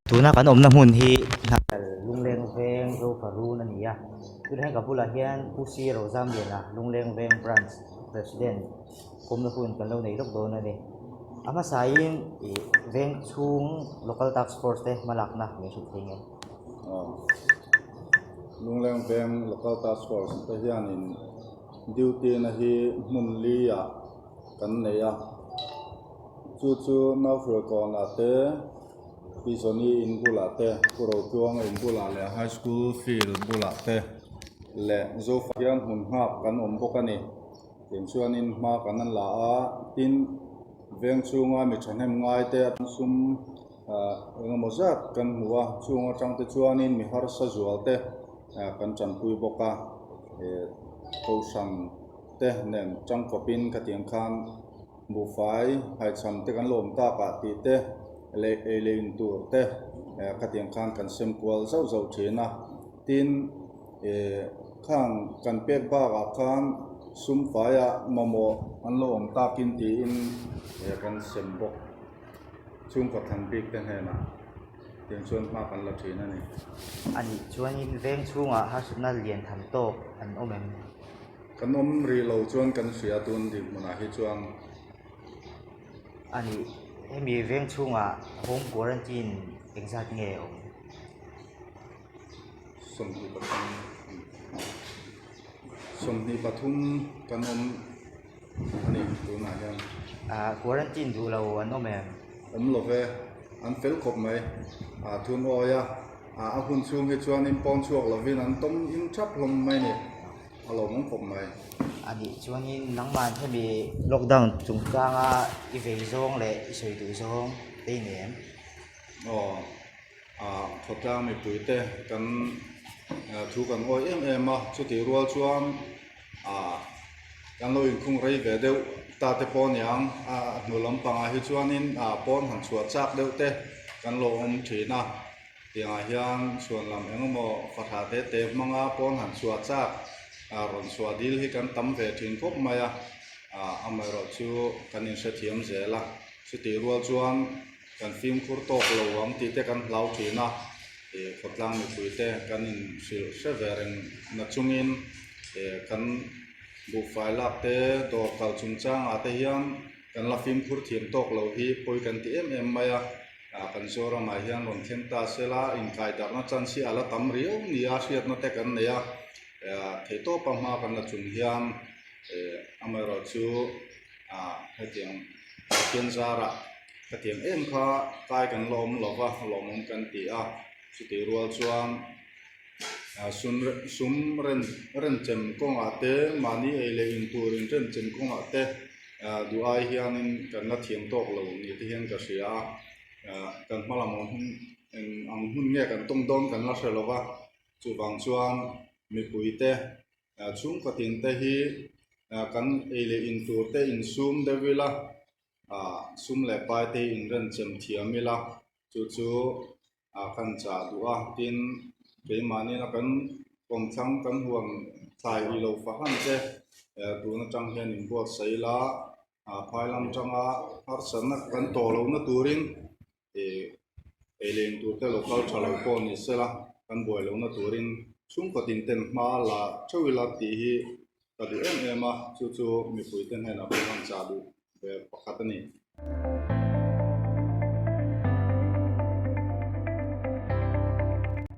Tuna kan awmna hmun hi Hnahkal lungleng veng Zofarun a ni a, tun he ka bulah hian Pu Sir Rozam Liana lungleng veng Branch President awmna hun kan lo nei lawk dawn a ni. A hmasaiin ih veng chhung Local Task Force te hma lakna min hrut thei ngei. Lungleng veng Local Task Force te hianin. Duty na hi hmun li ah kan neih a, chu chu nau hruai kawn ah te, Pizoni in bul ah te, Pu Rotuanga in bul ah leh High School field bul ah te leh Zofa hian hmun nghak kan awm bawk a ni. Tiang chuan in hma kan la a, tin veng chhung a mi thahnem ngai te a tan sum Engemaw zat kan hmu a, chung atangte chuanin mi harsa zualte kan tanpui bawk a, Kohrangte nen tangkawpin ka tiang khan buhfai haichhamte kan lawm tak a tih te leh ei leh in tur te ka tiang khan kan sem kual zauh zauh thin a, tin khang kan pek bakah khan sumfaiah mamawh an lawm takin tiin kan sem bawk. Chung kawtthlan bikte hnenah tin chuan hma kan la thin a ni. A nih chuanin veng chhungah harsatna lian tham tawk an awm em? Kan awm rih lo chuan kan hria tun dih hmunah hi chuan. A nih, hemi veng chhungah home quarantine engzat nge a awm? Sawmhnih pathum, sawmhnih pathum kan awm. tunah hian ahh quarantine duh lo an awm em? Awm lo ve, an fel khawp mai. Ahh tun awi a, ahh a hun chhung hi chuan in pawn chhuak lovin an tawm him thap hlawm mai ni, a lo awm khawp mai. A nih chuanin nangmah hemi lockdown chungchanga i vei zawng leh i sawi duh zawng te i nei em? Aw, ahh khawtlang mipuite kan thu kan awi em em a, chutih rual chuan. ah kan lo inkhung rei ve deuh ta te pawh a niang a a hnu lampang ah hi chuanin ah pawn han chhuah chak deuh te kan lo awm thin a tiang ah hian chhuan lam eng emaw fahra te te hmang a pawn han chhuah chak ah rawn chhuah dil hi kan tam ve thin khawp mai a ah amaherawhchu kan inhrethiam zel a chutih rual chuan-- Kan fimkhur tawk lo ang tih te kan hlau thin a, khawtlang mipui te kan in hrilh hre ve reng na chung in kan buhfai lak te dawr kal chung chang ah te hian kan la fimkhur thiam tawk lo hi pawi kan ti em em mai a, kan Zoram ah hian rawn thleng ta se la inkai darh na chance hi a la tam riau ni a hriat na te kan nei a, theih tawp a hma kan la chun hian amaherawhchu. A hetiang Pathian zara ka tiang em kha kai kan lawm lo va, lawmawm kan ti a, chutih rual chuan sum ren renchem kawngah te mahni ei leh in tur in remchem kawngah te duhai hianin kan la thiam tawk lo ni te hian ka hria a, kan hma lam hun ang hun nge kan tawng dawn kan la hre lo va, chuvang chuan mipui te ah chhungkatin te hi ah kan ei leh in tur te in sum deuh ila ah sum leh pai te in ran chem thiam ila chu chu ah kan chah duh a tin keimahnena kan awm thlang kan huam thlai ih lo fah hlan che eh tun atang hian in buatsaih ila ah phailam tanga harsatna kan tawh lohna turin-- eilein tur te lo kal tha lo pawh ni se la kan buai lohna turin chhungkut inten hma la theuh ila tih hi ka duh em em a chu chu mipuite hnenah pawh han chah duh ber pakhat a ni.